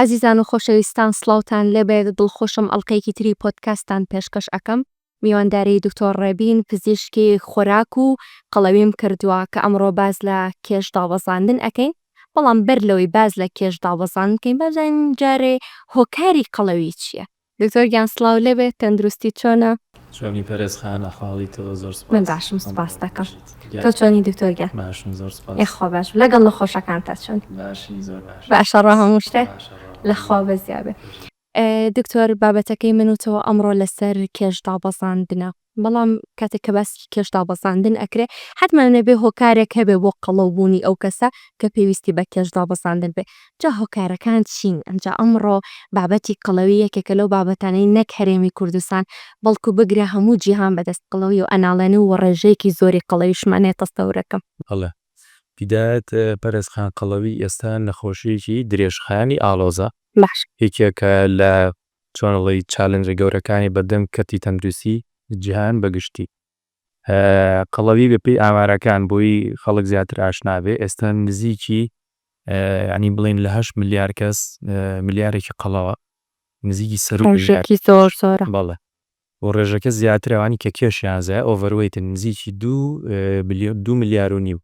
ئازیزان و خۆشەویستان سڵاوتان لێبێت دڵخۆشم ئەڵقەیەکی تری پۆدکاستان پێشکەش ئەکەم میوانداری دکتۆر ڕێبین پزیشکی خۆراک و قەڵەویم کردووە کە ئەمڕۆ باز لە کێش داوەزاندن ئەکەین بەڵام بەر لەوەی باز لە کێش داوەزان بکەین بازانین جارێ هۆکاری قەڵەوی چییە دکتۆر گیان سڵاو لێبێ تەندروستیت چۆنە؟ چۆنی پەرێز خان ئەحواڵی تۆ زۆر سوپاس. من باشم سوپاس دەکەم تۆ چۆنی دکتۆر گیان؟ باشم زۆر سوپاس. یەخوا باشبی لەگەڵ نەخۆشەکانتا چۆنی؟ باشین زۆر باش. باشە ڕا هەموو شتێ؟ باشە ڕا. لە خوا بەزیابێ. دکتۆر بابەتەکەی من و تۆ ئەمڕۆ لەسەر کێش دابەزاندنە. بەڵام کاتێک کە باسی کێش دابەزاندن ئەکرێ حەتمەن ئەبێ هۆکارێک هەبێ بۆ قەڵەو بوونی ئەو کەسە کە پێویستی بە کێش دابەزاندن بێ جا هۆکارەکان چین ئەمجا ئەمڕۆ بابەتی قەڵەوی یەکێکە لەو بابەتانەی نەک هەرێمی کوردستان بەڵکو بگرە هەموو جیهان بەدەست قەڵەوی و ئەناڵێنن و ڕێژەیەکی زۆری قەڵەویشمان هەیە تەستەورەکەم. هەڵە. هیدایەت پەرەس خان قەڵەوی ئێستا نەخۆشیەکی درێژخایەنی ئاڵۆزە. باشە. یەکێکە لە چۆن ئەڵێی چالنجە گەورەکانی بەردەم کەرتی تەندروستی جیهان بە گشتی. قەڵەوی بە پێی ئامارەکان بۆی خەڵک زیاتر ئاشنا بێ ئێستا نزیکی یانی بڵێین لە هەشت ملیار کەس ملیارێکی قەڵەوە نزیکی سەروو ملیار. ڕێژەکی زۆر زۆرە. بەڵێ و ڕێژەکە زیاترە ئەوانی کە کێشیان زایە ئۆڤەروەیتن نزیکی دوو ملیار و نیو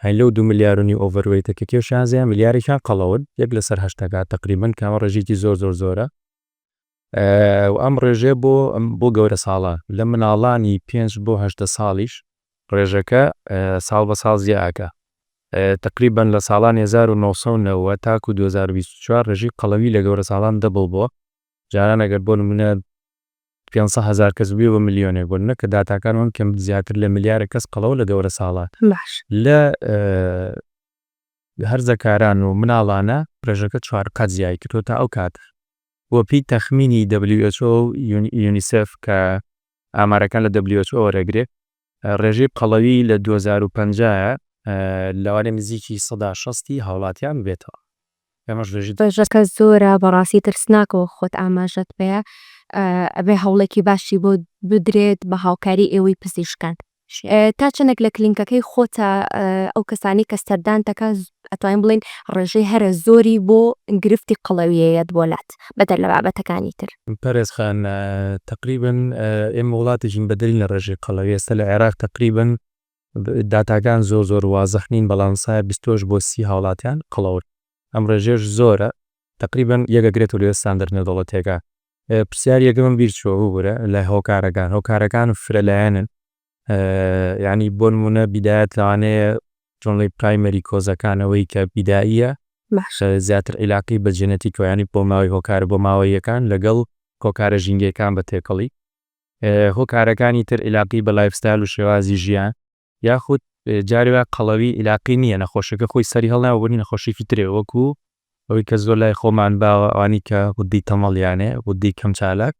هەی لەو دوو ملیار و نیو ئۆڤەروەیتە کە کێ شازە ملیارێکیان قەڵەون یەک لەسەر هەشت دەکات تەقریبەن کە ئەمە ڕێژەیەکی زۆر زۆر زۆرە و ئەم ڕێژەیە بۆ بۆ گەورە ساڵە لە مناڵانی پێنج بۆ هەشتە ساڵیش ڕێژەکە ساڵ بە ساڵ زیاکە تقریبان لە ساڵان 1990 تاکو 2024 ڕێژی قەڵەوی لە گەورە ساڵان دەبڵ بۆ جاران ئەگەر بۆ نمونە پێنج سەد هەزار کەس بێ بە ملیۆنێک بوون نە کە داتاکان وەن کەم زیاتر لە ملیارێک کەس قەڵەو لە گەورە ساڵە لە هەرزەکاران و مناڵانە پرێژەکە چوار قات زیای کردوە تا ئەو کات وە پێی تەخمینی WHO یونیسف کە ئامارەکان لە WHO وەرەگرێت ڕێژەی قەڵەوی لە دوو هەزار و پەنجا لەوانەیە نزیکی سەدا شەستی هاوڵاتیان ببێتەوە ئەمەش ڕێژەی. ڕێژەکە زۆرە بەڕاستی ترسناکە وەک خۆت ئاماژەت پێە ئەبێ هەوڵێکی باشی بۆ بدرێت بە هاوکاری ئێوەی پزیشکان تا چەندێک لە کلینکەکەی خۆتە ئەو کەسانەی کە سەردانتەکە ئەتوانین بڵێین ڕێژەی هەرە زۆری بۆ گرفتی قەڵەوییە یەت بۆ لات، بەدەر لە بابەتەکانی تر. پەرێز خان، تەقریبەن ئێمە وڵاتێکین بەدەرین لە ڕێژەی قەڵەوی، ئێستا لە عێراق تەقریبەن داتاکان زۆر زۆر وازح نین، بەڵام سایە بیستۆش بۆ سی هاوڵاتیان قەڵەون، ئەم ڕێژەیەش زۆرە، تەقریبەن یەک ئەگرێتەوە لە ستاندەر نێودەوڵەتییەکان. پرسیاری یەکەمم بیرچووە ببورە لە هۆکارەکان، هۆکارەکان فرەلایەنن، یانی بۆنمونە بیدایەت لەوانەیە جملەی پرایمەری کۆزەکان ئەوەی کە بیداییە زیاتر عیلاقی بە جێنەتیکەوە یانی بۆ ماوەی هۆکارە بۆ ماوەییەکان لەگەڵ هۆکارە ژینگەیەکان بە تێکەڵی هۆکارەکانی تر عیلاقی بە لایفستایل و شێوازی ژیان یاخود جارێ وایە قەڵەوی عیلاقی نییە نەخۆشەکە خۆی سەری هەڵناوە بۆنی نەخۆشیکی ترێ وەکو ئەوەی کە زۆر لای خۆمان باوە ئەوانی کە غوددەی تەمەڵیانێ غوددەی کەم چالاک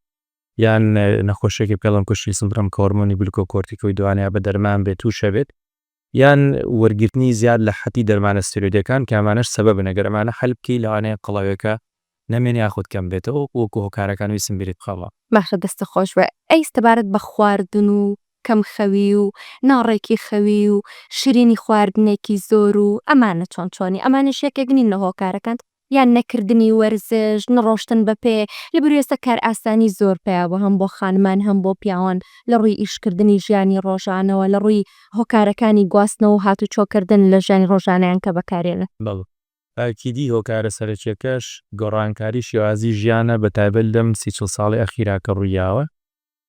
یان نەخۆشیەکی پێڵم کوشی سندرم کە هۆرمۆنی گلوکۆکۆرتیکۆی دوانەیە بە دەرمان بێت تووشە بێت یان وەرگرتنی زیاد لە حەتی دەرمانە ستێرۆیدەکان کە ئەمانەش سەبەبن ئەگەر ئەمانە حەل بکەی لەوانەیە قەڵەوێکە نەمێنێ یاخود کەم بێتەوە وەکو هۆکارەکان ویستم بیرت بخەمەوە. ماخ دەستت خۆش بێ ئەی سەبارەت بە خواردن و کەم خەوی و ناڕێکی خەوی و شرینی خواردنێکی زۆر و ئەمانە چۆن چۆنی ئەمانەش یەکێک نین لە هۆکارەکان یان نەکردنی وەرزش، نەڕۆشتن بە پێ، لە بەروێسە کارئاسانی زۆر پێیابوو هەم بۆ خانمان هەم بۆ پیاوان لە ڕووی ئیشکردنی ژیانی ڕۆژانەوە لە ڕووی هۆکارەکانی گواستنەوە و هاتوچۆکردن لە ژیانی ڕۆژانەیان کە بەکارێنن. بەڵێ ئاکیدی هۆکارە سەرەکیەکەش گۆڕانکاری شێوازی ژیانە بەتایبەت لەم سی چڵ ساڵەی ئەخیرا کە ڕوویاوە.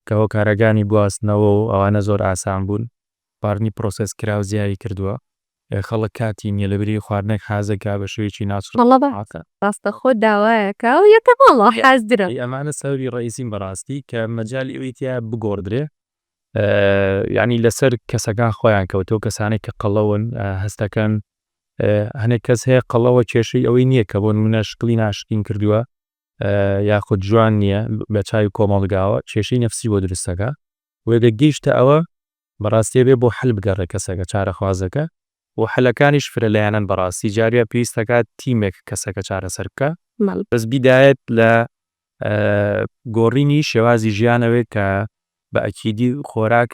کە هۆکارەگانی گواستنەوە و ئەوانە زۆر ئاسان بوون، خواردنی پرۆسێس کراو زیادی کردووە، خەڵک کاتی نیە لەبری خواردنێک حازە کا بە شێوەیەکی ناچڵ بەڵە بە هاتە. ڕاستەخۆ داوایەکە و یە تە ماڵە حازرە. ئەی ئەمانە سەبەبی ڕئیسین بەڕاستی کە مەجالی ئەوی تیایە بگۆڕدرێ یانی لەسەر کەسەکان خۆیان کەوتوە کەسانێک کە قەڵەون هەستەکەن هەنێک کەس هەیە قەڵەوە کێشەی ئەوەی نیە کە بۆ نمونە شکلی ناشرین کردوە یاخود جوان نییە بە چاوی کۆمەڵگاوە کێشەی نەفسی بۆ دروست دەکا و ئەگەر گەیشتە ئەوە بەڕاستی ئەبێ بۆ حەل بگەڕێ کەسەکە چارەخوازەکە و حەلەکانیش فرە لایەنەن بەڕاستی جارێ پێویست دەکا تیمێک کەسەکە چارەسەر بکا بەس بیدایەت لە گۆڕینی شێوازی ژیانەوەی کە بە ئەکیدی خۆراک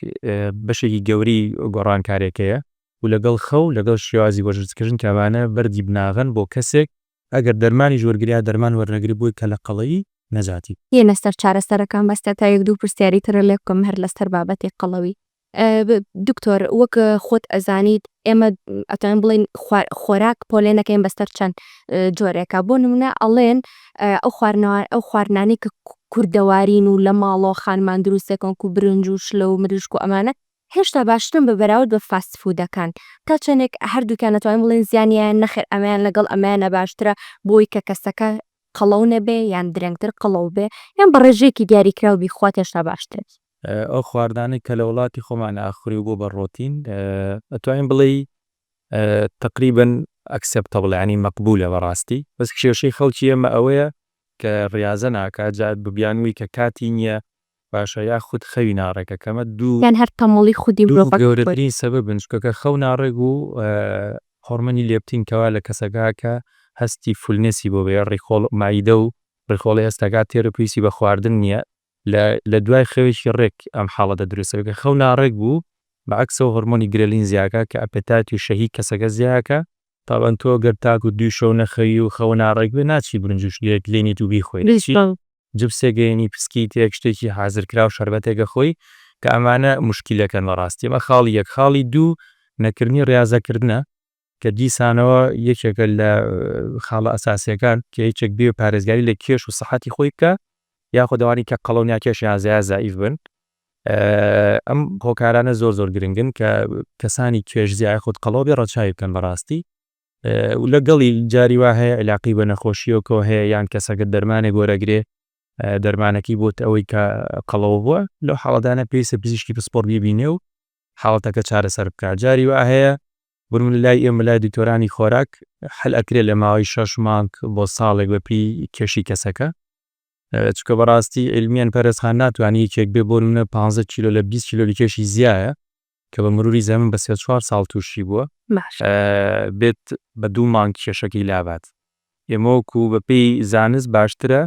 بەشێکی گەوری گۆڕانکارێکەیە و لەگەڵ خەو لەگەڵ شێوازی وەرزشکردن کە ئەمانە بەردی بناغەن بۆ کەسێک ئەگەر دەرمانیش وەرگریا دەرمان وەرنەگری بۆی کە لە قەڵەوی نەجاتی. یە لەسەر چارەسەرەکان بەس تکتا یەک دوو پرسیاری ترە لێ بکەم هەر لەسەر بابەتی قەڵەوی دکتۆر وەک خۆت ئەزانیت ئێمە ئەتوانین بڵێن خۆراک پۆلێنەکەین بەسەر چەند جۆرێکە بۆ نمونە ئەڵێن ئەو خوارنەوە ئەو خواردنانی کە کوردەوارین و لە ماڵەوە خانمان دروستەکەن و برنج و شلە و مریشک و ئەمانە هێشتا باشترن بە بەراورد بە فاست فوودەکان. تا چەندێک هەردووکیان ئەتوانین بڵێین زیانیان نەخێر ئەمەیان لەگەڵ ئەمەیانە باشترە بۆ ئەوەی کە کەسەکە قەڵەو نەبێ یان درەنگتر قەڵەو بێ یان بە ڕێژەیەکی دیاریکراو بیخوات هێشتا باشترە. ئەو خواردنانەی کە لە وڵاتی خۆمان ئاخوری و بووە بە ڕۆتین ئەتوانین بڵێی تەقریبەن ئەکسێپتەبڵە یانی مەقبوولە بە ڕاستی بەس کێشەی خەڵکی ئێمە ئەوەیە کە ڕیازە ناکات جا بیانووی کە کاتی نییە باشە یاخود خەوی ناڕێکە کەمە دوو. یان هەر تەموڵی خودی مرۆڤەکە خۆی. دوو گەورەترین سەبەبن چونکە کە خەو ناڕێک و هۆڕمەنی لێپتین کەوا لە کەسەکە کە هەستی فولنێسی بۆ بێ ڕیخۆڵ مەعیدە و ڕیخۆڵی هەستەکە تێرە پێویستی بە خواردن نیە لە لە دوای خەوێکی ڕێک ئەم حاڵەتە دروست دەبێ کە خەو ناڕێک بوو بە عەکسەوە هۆڕمۆنی گرێلین زیاکە کە ئەپێتایت و شەهی کەسەکە زیاکە تابان تۆ گەر تاکو دوی شەو نەخەوی و خەوە ناڕێک بێ ناچی برنج و شلێک لێنیت و بیخۆی دەچی جبسێک گەیەنی پسکیتێک شتێکی حازر کراو شەربەتێک ئەخۆی کە ئەمانە موشکیلەکەن بەڕاستی ئەمە خاڵی یەک خاڵی دوو نەکردنی ڕیازە کردنە کە دیسانەوە یەکێکە لە خاڵە ئەساسیەکان کە یەکێک بێ پارێزگاری لە کێش و سەحەتی خۆی بکە یاخۆ دەوانی کە قەڵەو ناکێشیان زیا زائیف بن ئەم هۆکارانە زۆر زۆر گرنگن کە کەسانی توێژزیا یاخود قەڵەوبێ ڕەچاوی بکەن بە ڕاستی و لە گەڵی جاری وا هەیە عیلاقەی بە نەخۆشییەکەوە هەیە یان کەسەکە دەرمانێک وەرەگرێ دەرمانەکەی بۆت ئەوەی کە قەڵەوە بووە لەو حاڵەتانە پێویستە پزیشکی پسپۆڕ بیبینێ و حاڵەتەکە چارەسەر بکات جاری وا هەیە بروون لای ئێمە لای دکتۆرانی خۆراک حل ئەکرێ لە ماوەی شەش مانگ بۆ ساڵێک بەپێی کێشی کەسەکە چونکە بەڕاستی علمیان پەرێز خان ناتوانانی یەکێک بێ بۆ نمونە 15 کیلۆ لە 20 کیلۆ لکێشی زیایە کە بە مروری زەمن بە سێ چوار ساڵ تووشی بووە بێت بە دوو مانگ کێشەکەی لابات ئێمەوەکو بە پێی زانست باشترە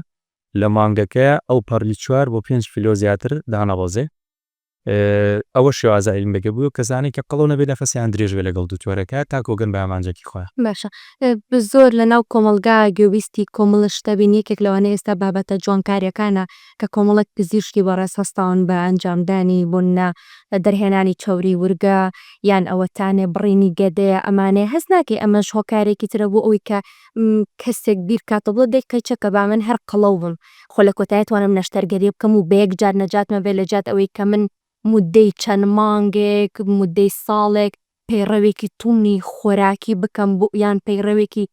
لە مانگەکە ئەو پەڕی چوار بۆ پێنج کیلۆ زیاتر دانەڕۆزێ ئەوە شێوازە عیلمێکە بۆ کەسانی کە قەڵەو نەبێت نەفەسیان درێژ بێت لەگەڵ دوکتۆرەکە تاکۆ گەن بە ئامانجەکی خۆیان. باشە زۆر لە ناو کۆمەڵگا گوێبیستی کۆمڵە شتە بین یەکێک لەوانە ئێستا بابەتە جوانکاریەکانە کە کۆمەڵێک پزیشکی بەڕێز هەستاون بە ئەنجامدانی بۆ نا دەرهێنانی چەوری ورگە یان ئەوەتانێ بڕینی گەدەیە ئەمانەیە هەست ناکەی ئەمەش هۆکارێکی ترە بۆ ئەوەی کە کەسێک بیرکاتەوە بڵێ دەی قەیچەکە با من هەر قەڵەو بم خۆ لە کۆتایە توانم نەشتەرگەریە بکەم و بە یەک جار نەجاتمە بێ لە جیات ئەوەی کە من مودەی چەند مانگێک مودەی ساڵێک پەیڕەوێکی توندی خۆراکی بکەم بو یان پەیڕەوێکی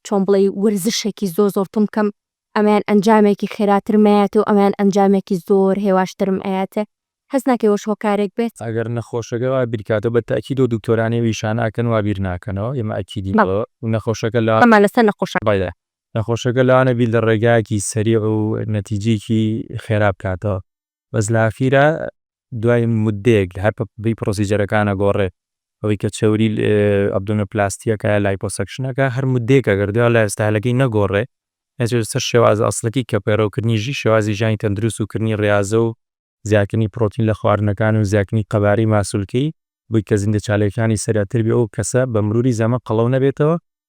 چۆن بڵێی ورزشێکی زۆر زۆر توند بکەم ئەمەیان ئەنجامێکی خێراترم ئەیاتێ و ئەمەیان ئەنجامێکی زۆر هێواشترم ئەیاتێ هەست ناکەی ئەوەش هۆکارێک بێت؟ ئەگەر نەخۆشەکە وا بیر کاتەوە بە تەئکید و دوکتۆرانی ویشانە ئەکەن وا بیر ناکەنەوە ئێمە ئەکیدین بەڵێ و نەخۆشەکە لا. بەڵێ لەسەر نەخۆشەکە. بەڵێ نەخۆشەکە لەوانە بیر لە ڕێگایەکی سەریع و نەتیجەیەکی خێرا بکاتەوە، بەس لە ئاخیرا دوای موددەیەک لە هەر بەپێی پرۆسیجەرەکان ئەگۆڕێ، ئەوەی کە چەوریی ئەبدۆمینۆپلاستییەکە یا لایپۆسەکشنەکە هەر موددەیەک ئەگەر دوا لە ستایلەکەی نەگۆڕێ نەچێتە سەر شێوازە ئەسڵەکی کە پەیڕەوکردنی ژی شێوازی ژیانی تەندروست و کردنی ڕیازە و زیادکردنی پرۆتین لە خواردنەکان و زیادکردنی قەبارەی ماسولکەی بووی کە زیندەچالییەکانی سەریعتر بێ و ئەو کەسە بە مرووری زەمەن قەڵەو نەبێتەوە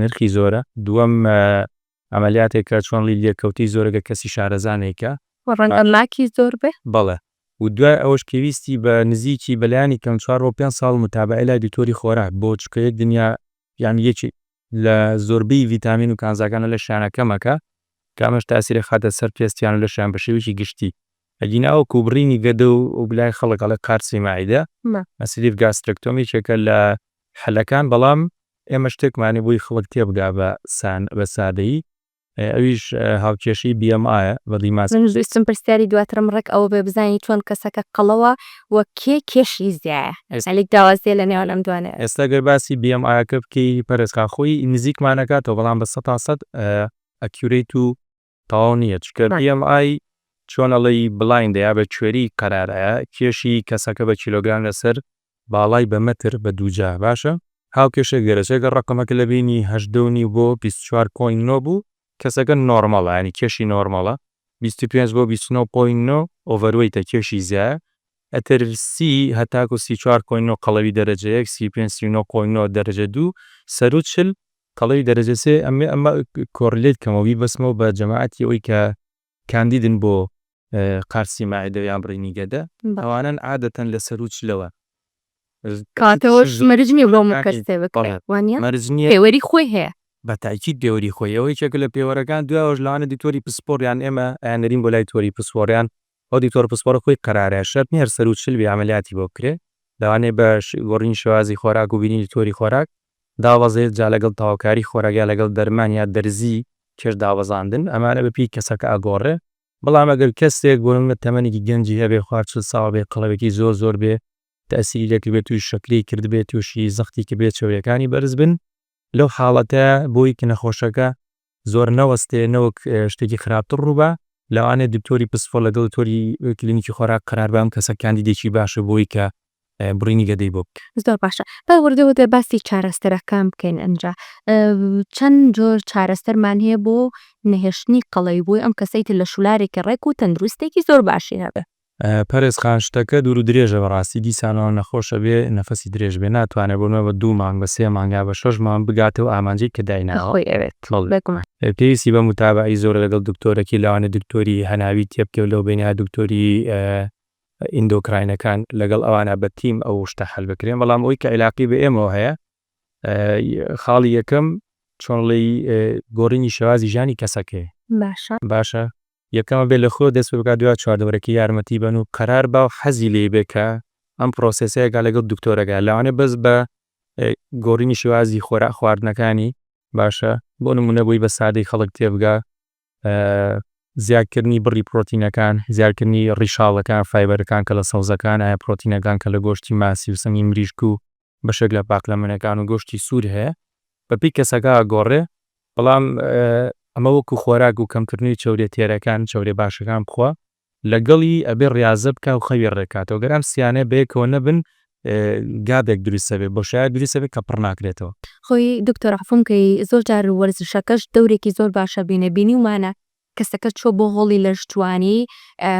نرخی زۆرە. دووەم عەمەلیاتێکە چۆن ڵی لێکەوتەی زۆرەگە کەسی شارەزا نەیکا. وە ڕەنگە لاکی زۆر بێ. بەڵێ و دوای ئەوەش پێویستی بە نزیکی بە لایەنی کەم چوار بۆ پێنج ساڵ متابەعەی لای دکتۆری خۆراک بۆ چکە یەک دنیا یان یەکی لە زۆربەی ڤیتامین و کانزاکان لە لەشیانە کەمەکە کە ئەمەش تاسیر ئەخاتە سەر پێستیان و لەشیان بە شێوەیەکی گشتی ئەگینا وەکو بڕینی گەدە و لای خەڵک ئەڵێ قارچی مەعیدە Sleeve Gastrectomy یەکێکە لە حەلەکان بەڵام ئێمە شتێکمانی بوی خڵک تێبگا بە سان بە سادەیی ئەویش هاوکێشەی BMI ە بە دیماس. من ویستم پرسیاری دواترم ڕێک ئەوە بێ بزانی چۆن کەسەکە قەڵەوە و کێ کێشی زیایە هەلیک داوازیە لە نێوان ئەم دوانە. ئێستا گەر باسی BMI ەکە بکەی پەرێزخان خۆی نزیکمان ئەکاتەوە بەڵام بە سەتا سەد ئەکیورەیت و تەواو نیە چونکە بی ئێم ئای چۆن ئەڵێی بڵایندە یا بە کوێری قەرارایە کێشی کەسەکە بە کیلۆگرام لەسەر باڵای بە مەتر بە دووجا باشە هاوکێشێک دەرەچێ گەر ڕەقەمەکە لە بینی هەژدە و نیو بۆ بیست و چوار پۆینت نۆ بوو کەسەکە نۆرماڵە یانی کێشی نۆرماڵە بیست و پێنج بۆ بیست و نۆ پۆینت نۆ ئۆڤەروەیتە کێشی زیایە ئەتر سی هەتاکو سی و چوار پۆینت نۆ قەڵەوی دەرەجە یەک سی و پێنج سی و نۆ پۆینت نۆ دەرەجە دوو سەروو چل کەڵەی دەرەجە سێ ئەمێ ئەمە کۆڕیلەیت کەمەوە بیبەسمەوە بە جەماعەتی ئەوەی کە کاندیدن بۆ قارسی مەعدە یان بڕینی گەدە ئەوانەن عادەتەن لە سەروو چلەوە کاتەوەش مەرج نیە بۆ هەموو کەس پێ بکرێ وانیە مەرج نیە پێوەری خۆی هەیە بە تاکید پێوەری خۆی ئەوە یەکێکە لە پێوەرەکان دوایەوەش لەوانە دکتۆری پسپۆڕ یان ئێمە ئەیان نەرین بۆ لای تۆری پسپۆڕ یان ئەو دکتۆر پسپۆڕە خۆی قەرارە شەرت نیە هەر سەروو چل بی عەمەلیاتی بۆ بکرێ لەوانەیە بە گۆڕینی شێوازی خۆراک و بینینی تۆری خۆراک دابەزێت جا لەگەڵ تەواوکاری خۆراک یا لەگەڵ دەرمان یا دەرزی کێش دابەزاندن ئەمانە بە پێی کەسەکە ئەگۆڕێ بەڵام ئەگەر کەسێک بۆ نمونە تەمەنێکی گەنجی هەبێ خوار چل ساڵ بێ قەڵەوێکی زۆر زۆر بێ تەئسیری لێ کردبێ تووشی شەکرەی کردبێ تووشی زەختی کردبێ چەوریەکانی بەرز بن لەو حاڵەتە بۆی کە نەخۆشەکە زۆر نەوەستێ نەوەک شتێکی خراپتر ڕووبا لەوانێ دکتۆری پسپۆر لەگەڵ دکتۆری کلینیکی خۆراک قەرار بام کەسە کاندیدێکی باشە بۆی کە بڕینی گەدەی بۆ بکە. زۆر باشە با وردە وردە باسی چارەسەرەکان بکەین ئەنجا چەند جۆر چارەسەرمان هەیە بۆ نەهێشتنی قەڵەوی بۆی ئەم کەسەی تر لە شولارێکی ڕێک و تەندروستێکی زۆر باشی هەبێ. پەرێز خان شتەکە دوورو درێژە بەڕاستی دیسانەوە نەخۆشە بێ نەفەسی درێژ بێ ناتوانێ بۆ مەبە دوو مانگ بە سێ مانگ یا بە شەش مانگ بگاتە و ئامانجەی کە دایناوە بەڵێ پێویستی بە موتابەعەی زۆرە لەگەڵ دکتۆرەکی لەوانە دکتۆری هەناوی تێ بکەو لەو بەینە دکتۆری ئیندۆکراینەکان لەگەڵ ئەوانە بە تیم ئەو شتە حەل بکرێن بەڵام ئەوی کە عیلاقی بە ئێمەوە هەیە خاڵی یەکەم چۆنڵێی گۆڕینی شێوازی ژانی کەسەکەی باشە باشە یەکەمە بێ لە خۆ دەست پێ بکە دوای چواردەورەکە یارمەتی بەن و قەرار با و حەزی لێی بێ کە ئەم پرۆسێسەیەکە لەگەڵ دکتۆرەکە لەوانەیە بەس بە گۆڕینی شێوازی خۆراک خواردنەکانی باشە بۆ نمونە بۆی بە سادەی خەڵک تێبگا زیادکردنی بڕی پرۆتینەکان زیادکردنی ڕیشاڵەکان فایبەرەکان کە لە سەوزەکان ئایا پرۆتینەکان کە لە گۆشتی ماسی و سنگی مریشک و بەشێک لە پاقلەمەنەکان و گۆشتی سوور هەیە بەپی کەسەکە ئەگۆڕێ بەڵام ئەمە وەکو خۆراک و کەمکردنەوەی چەورێ تێرەکان چەورێ باشەکان بخوا لەگەڵی ئەبێ ڕازە بکا و خەوی ڕێکاتەوە گەر ئەم سیانە بەیەکەوە نەبن گابێک دروستە بێ بۆشایە دروستە بێ کە پڕ ناکرێتەوە. خۆی دکتۆر عەفوم کەی زۆر جار وەرزشەکەش دەورێکی زۆر باشە بینە بینیومانە کەسەکە چووە بۆ هۆڵی لەشجوانی،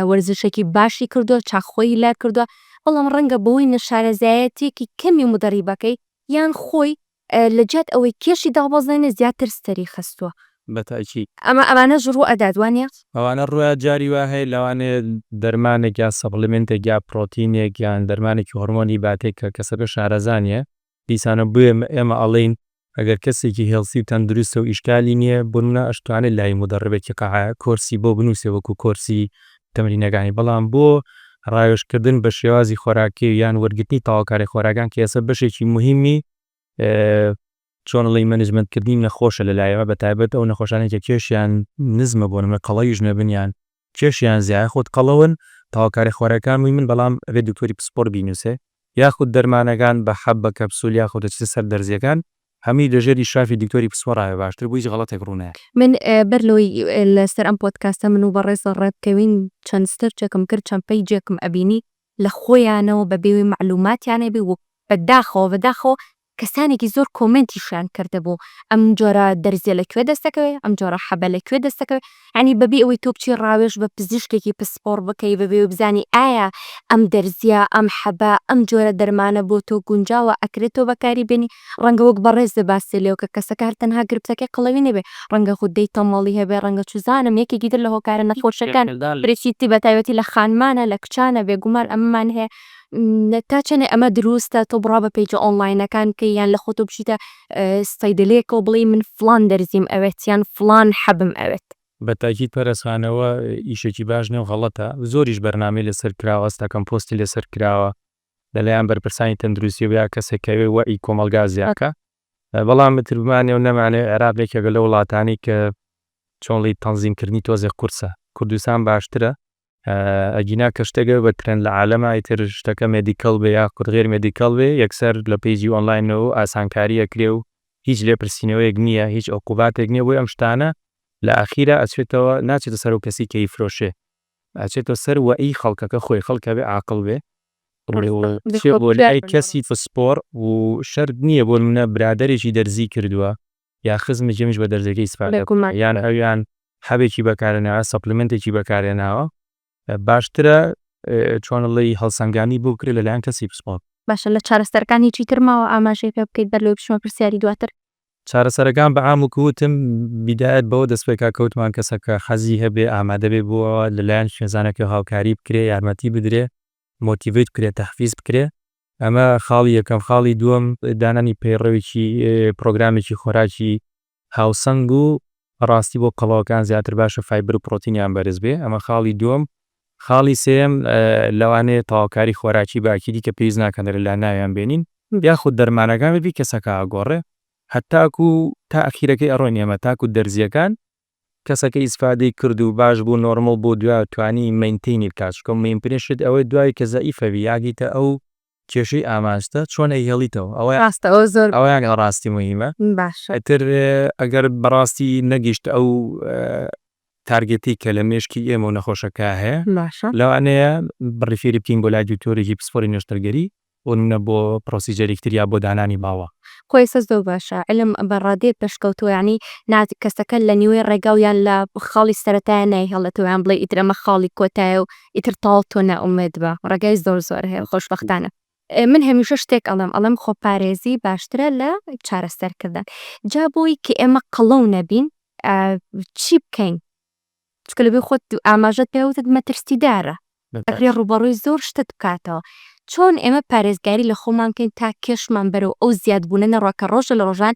وەرزشێکی باشی کردووە، چاخ خۆی لا کردووە، بەڵام ڕەنگە بەهۆی نەشارەزایەتییەکی کەمی مدەریبەکەی یان خۆی لە جیات ئەوەی کێشی دابەزێنێ زیاتر سەری خستووە. بە تاکی. ئەمە ئەمانەش ڕوو ئەدات وانیە؟ ئەوانە ڕووئەدات جاری وا هەیە لەوانەیە دەرمانێک یان سەپڵیمێنتێک یا پڕۆتینێک یان دەرمانێکی هۆڕمۆنی باتێک کە کەسەکە شارەزا نییە دیسانە بۆیە ئێمە ئەڵێین ئەگەر کەسێکی هێڵسی و تەندروستە و ئیشکالی نییە بۆ نمونە ئەشتوانێ لای مودەڕبێکی قاعە کۆرسی بۆ بنووسێ وەکو کۆرسی تەمرینەکانی بەڵام بۆ ڕاوێژکردن بە شێوازی خۆراکی و یان وەرگرتنی تاواکاری خۆراکان کە ئێستا بەشێکی مهمی چۆنڵی مەنجمنتکردنی نەخۆشە لەلایەوە بە تایبەت ئەو نەخۆشانێکە کێشیان نزمە بۆ نمە قەڵەویش نەبنیان کێشیان زیا یاخود قەڵەون تەواوکارە خوارەکان وی من بەڵام ئەبێ دکتۆری پسپۆر بینوسێ یاخود دەرمانەکان بە حەب بە کەپسول یاخود دەچیتە سەر دەرزیەکان هەموی لە ژێر ئیشرافی دکتۆری پسپۆرا بێ باشتر بو هیچ غەڵەتێک ڕو نایە. من بەر لەوەی لە سەر ئەم پۆدکاستە من و بەڕێز ڕێ بکەوین چەند سرچێکم کرد چەند پەیجێکم ئەبینی لە خۆیانەوە بە بێ ئەوەی مەعلوماتیان هەبێ و بە داخەوە بە داخەوە کەسانێکی زۆر کۆمێنتیشیان کردبوو ئەم جۆرە دەرزیە لە کوێ دەست دەکەوێ ئەم جۆرە حەبە لە کوێ دەست دەکەوێ یانی بەبی ئەوەی تۆ بچی ڕاوێژ بە پزیشکێکی پسپۆڕ بکەی بەبێ ئەوەی بزانی ئایا ئەم دەرزیە ئەم حەبە ئەم جۆرە دەرمانە بۆ تۆ گونجاوە ئەکرێ تۆ بەکاری بێنی ڕەنگە وەک بەڕێز بێ باست لێ بکە کەسەکە هەر تەنها گرفتەکەی قەڵەوی نەبێ ڕەنگە غودەی تەمەڵی هەبێ ڕەنگە چوزانم یەکێکی تر لە هۆکارە نەخۆشەکان بریتیتی بەتایبەتی لە خانمانە لە کچانە بێگومان ئەمەمان هەیە تا چەنێ ئەمە دروستە تۆ بڕا بە پەیجە ئۆنلاینەکان بکەی یان لە خۆتۆ بچیتە سەیدەلێکەوە بڵێی من فڵان دەرزیم ئەوێت یان فڵان حەبم ئەوێت. بە تاکید پەرەس خان ئەوە ئیشێکی باش نیە و غەڵەتە زۆریش بەرنامەی لەسەر کراوە هەستاکەم پۆستی لەسەر کراوە لە لایان بەرپرسانی تەندروستی و یا کەسێک کە ئەوێ وەعی کۆمەڵگا زیاکا بەڵام متر بمانێ و نەمانێ عێراق یەکێکە لەو وڵاتانەی کە چۆنڵی تەنزیم کردنی تۆزێ قورسە کوردستان باشترە ئەگینا کە شتەک بە ترێند لە عالەما ئیتر شتەکە مێدیکەڵ بێ یاخود غێر مێدیکەڵ بێ یەکسەر لە پەیجی ئۆنلاینەوە ئاسانکاری ئەکرێ و هیچ لێپرسینەوەیەک نییە هیچ عقوباتێک نییە بۆی ئەم شتانە لە ئاخیرا ئەچێتەوە ناچێتە سەرو کەسی کە ئیفرۆشێ ئەچێتە سەر وە ئی خەڵکەکە خۆی خەڵکە بێ عاقڵ بێ چێ بۆ لای کەسی فسپۆڕ و شەرت نییە بۆ نمونە برادەرێکی دەرزی کردوە یان خزمی جەمیش بە دەرزیەکەی سپاردە بکە یان ئەویان حەبێکی بەکارهێناوە سەپلیمێنتێکی بەکارهێناوە باشترە چۆنڵی هەڵسەنگانی بۆ بکرێت لەلایەن کەسی پسپۆر. باشە لە چارەسەرەکانی چی تر ماوە ئاماژەی پێ بکەیت بەر لەوەی بچمە پرسیاری دواتر. چارەسەرەکان بە عام وەکو وتم بیدایەت بەوە دەست پێکا کە وتمان کەسەکە حەزی هەبێ ئامادەبێ بۆ ئەوە لەلایەن خوێنزانەکەوە هاوکاری بکرێ یارمەتی بدرێ مۆتیڤەیت بکرێ تەحفیز بکرێ، ئەمە خاڵی یەکەم، خاڵی دووەم دانانی پەیڕەوێکی پڕۆگرامێکی خۆراکی هاوسەنگ و بەڕاستی بۆ قەڵەوەکان زیاتر باشە فایبر و پڕۆتینیان بەرز بێ ئەمە خاڵی دووەم، خاڵی سێیەم لەوانەیە تەواوکاری خۆراکی بە ئەکیدی کە پێویست ناکەن لە لا ناویان بێنین یاخود دەرمانەکان بەبی کەسەکە ئەگۆڕێ هەتاکوو تا ئەخیرەکەی ئەڕۆین ئێمە تاکوو دەرزییەکان کەسەکە ئیسفادەی کرد و باش بوو نۆرمل بوو دوای توانی مەینتەینی بکات چونکە مەینپرێ شت ئەوەی دوای کە زەئیفە بی یاگیتە ئەو کێشەی ئاماژتە چۆن ئەیهێڵیتەوە ئەوە راستە ئەوە زۆر ئەوە یاگا راستی موهیمە باشە. ئیتر ئەگەر بەڕاستی نەگیشت ئەو تارگێتەی کە لە مێشکی ئێمە و نەخۆشەکە هەیە باشە. لەوانەیە ریفیری بکەین بۆ لای دوکتۆرێکی پسپۆری نەشتەرگەری بۆ نمونە بۆ پرۆسیجەرێکی تر یا بۆ دانانی ماوە. قویسە زۆر باشە علم بە ڕادەیەک پەشکەوتووە یانی نا کەسەکە لە نیوەی ڕێگا و یان لە خاڵی سەرەتایە نایهێڵێتەوە یان بڵێ ئیتر ئەمە خاڵی کۆتایە و ئیتر تەواو تۆ نائومێد بە ڕێگای زۆر زۆر هەیە خۆشبەختانە من هەمیشە شتێک ئەڵێم ئەڵێم خۆپارێزی باشترە لە چارەسەرکردن جا بۆی کە ئێمە قەڵەو نەبین چی بکەین؟ چونکە لەبێ خۆت ئاماژەت پێ وتت مەترسیدارە ئەکرێ ڕووبەڕووی زۆر شتت بکاتەوە چۆن ئێمە پارێزگاری لە خۆمان بکەین تا کێشمان بەرەو ئەو زیادبوونە نەڕوا کە ڕۆژە لە ڕۆژان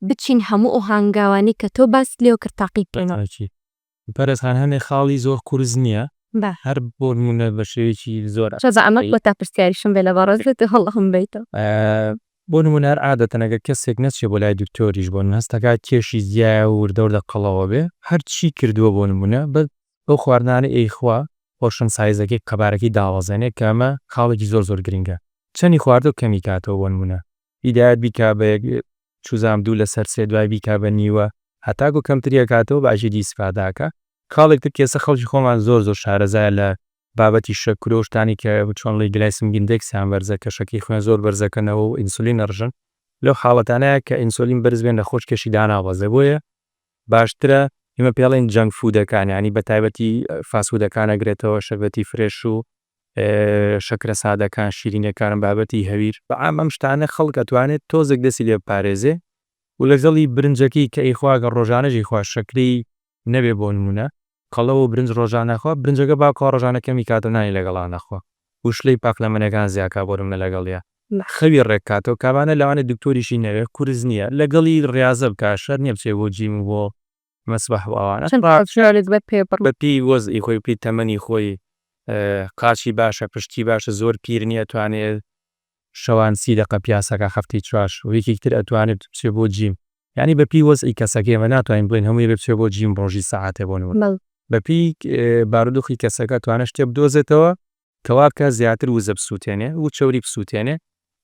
بچین هەموو ئەو هانگاوانەی کە تۆ باست لێوە کرد تاقی بکەینەوە. بەڕێز خان هەنێ خاڵی زۆر قورس نییە هەر بۆ نموونە بەشێوەیەکی زۆر ئاسایی. بەئەمەک بۆ تا پرسیاریشم بێ لە بەڕێزت واللە هەمووی بەیتەوە. بۆ نموونە هەر عادەتەن ئەگەر کەسێک نەچێ بۆ لای دکتۆریش بۆ نموونە هەستەکە کێشی زیایە و وردەوردە قەڵەوە بێ هەر چی کردووە بۆ نموونە بەس ئەو خواردنانەی ئەیخوا پۆرشن سایزەکەی قەبارەکەی داڵەزێنێ کە ئەمە خاڵێکی زۆر زۆر گرینگە چەنی خواردووە کەمی کاتەوە بۆ نموونە هیدایەت بیکا بە یەک چوزام دوو لەسەر سێ دوای بیکا بە نیوە هەتاکو کەمتری ئەکاتەوە بە ئەژیری ئیسفادە ئەکا خاڵێک تر کێسە خەڵکی خۆمان زۆر زۆر شارەزایە لە بابەتی شە کرۆ و شتانی کە چۆن ڵی گلایسم گندێکسیان بەرزە کە شەکری خوێن زۆر بەرزەکەنەوە و ئینسولین ئەڕژن لەو حاڵەتانەیا کە ئینسۆلین بەرز بێ نەخۆش کێشی داناوەزێ بۆیە باشترە ئیمە پێڵێن جەنگ فودەکان یانی بە تایبەتی فاسودەکان ئەگرێتەوە شەربەتی فرێش و شەکرە سادەکان شیرینەکانم بابەتی هەویر بە عام ئەم شتانە خەڵک ئەتوانێت تۆزێک دەسی لێ بپارێزێ و لەگەڵی برنجەکەی کە ئیخوا گەر ڕۆژانەش یخوا شەکری نەبێ بۆ نموونە قەڵەو و برنج ڕۆژان نەخوا برنجەکە با بخوا ڕۆژانە کەمی کات و نانی لەگەڵا نەخوا و شلەی پاق لە مەنێکان زیا کا بۆ نموونە لەگەڵیا خەوی ڕێک کاتەوە کابانە لەوانەیە دکتۆریشی نەوێ قورس نییە لەگەڵی ڕیازە بکا شەرت نییە بچێ بۆ جیم و بۆ مەسبەح و ئەوانە چەند کاتژمێرێک بە پێ بڕ. بە پێی وەزعی خۆی بە پێی تەمەنی خۆی قاچی باشە پشتی باشە زۆر پیر نییە توانێ شەوان سی دەقە پیاسەکە هەفتەی چوار شەو یەکێکی تر ئەتوانێت بچێت بۆ جیم یانی بەپی وەزعی کەسەکە ئێمە ناتوانین بڵێین هەموو یەکێک بچێت بۆ جیم ڕۆژی سەعاتێ بۆ نموونە بەڵێ. بەپی بارودۆخی کەسەکە توانێت شتێ بدۆزێتەوە کە وا بکات زیاتر وزە بسوتێنێ و چەوری بسوتێنێ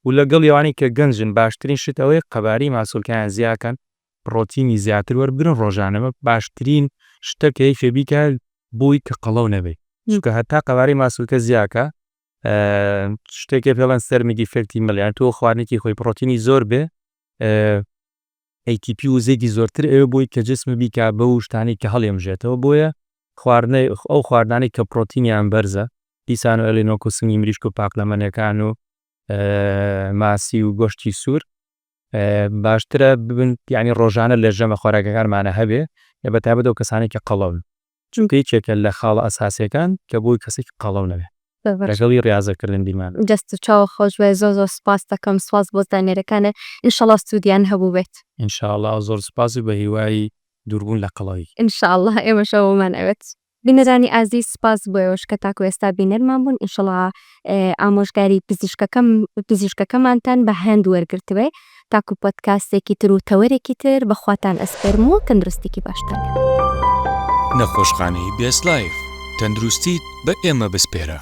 و لەگەڵی ئەوانەی کە گەنجن باشترین شت ئەوەیە قەبارەی ماسولکەیان زیا کەن پڕۆتینی زیاتر وەربگرن ڕۆژانە ئەمە باشترین شتە کە یەکێ بیکات بۆی کە قەڵەو نەبێ چونکە هەتا قەبارەی ماسولکە زیا کا شتێکێ پێڵەن سەرمی دیفێکتی مل یان تۆ خوارنێکی خۆی پرۆتینی زۆر بێ ATP و زێدی زۆرتر ئەوێ بۆی کە جسم بیکە بە و شتانی کە هەڵێمژێتەوە بۆیە خواردنە ئەو خواردانی کە پرۆتینیان بەرزە دیسان و ئەلینۆک و سنگی مریشک و پاقلەمەنەکان و ماسی و گۆشتی سوور باشترە ببن ینی ڕۆژانە لە ژەمە خۆراکەکانمانە هەبێ لە بەتابەتەوە کەسانی کە قەڵەون چونکە یەکێکە لە خاڵە ئەساسیەکان کە بۆی کەسێکی قەڵەو نەبێ لەگەڵی ڕیازەکردن بیرمان بێ. دەست و چاوت خۆشبێت زۆر زۆر سوپاست دەکەم سوپاس بۆ زانیاریەکانت انشاللە سودیان هەبووبێت. ان شاء اللە زۆر سوپاس و بەهیوای دووربوون لە قەڵەوی. ان شاء اللە ئێمەش ئەوەمان ئەوێت. بینەرانی ئازیز سوپاس بۆ ئێوەش کە تاکو ئێستا بینەرمان بوون انشاللە. ئامۆژگاری پزیشکەکەمانتان بە هەند وەرگرتبێ تاکو پۆدکاستێکی تر و تەوەرێکی تر بەخواتان ئەسپێرم و تەندروستیکی باشتان هەبێ. نەخۆشخانەی بێست لایف، تەندروستیت بە ئێمە بسپێرە.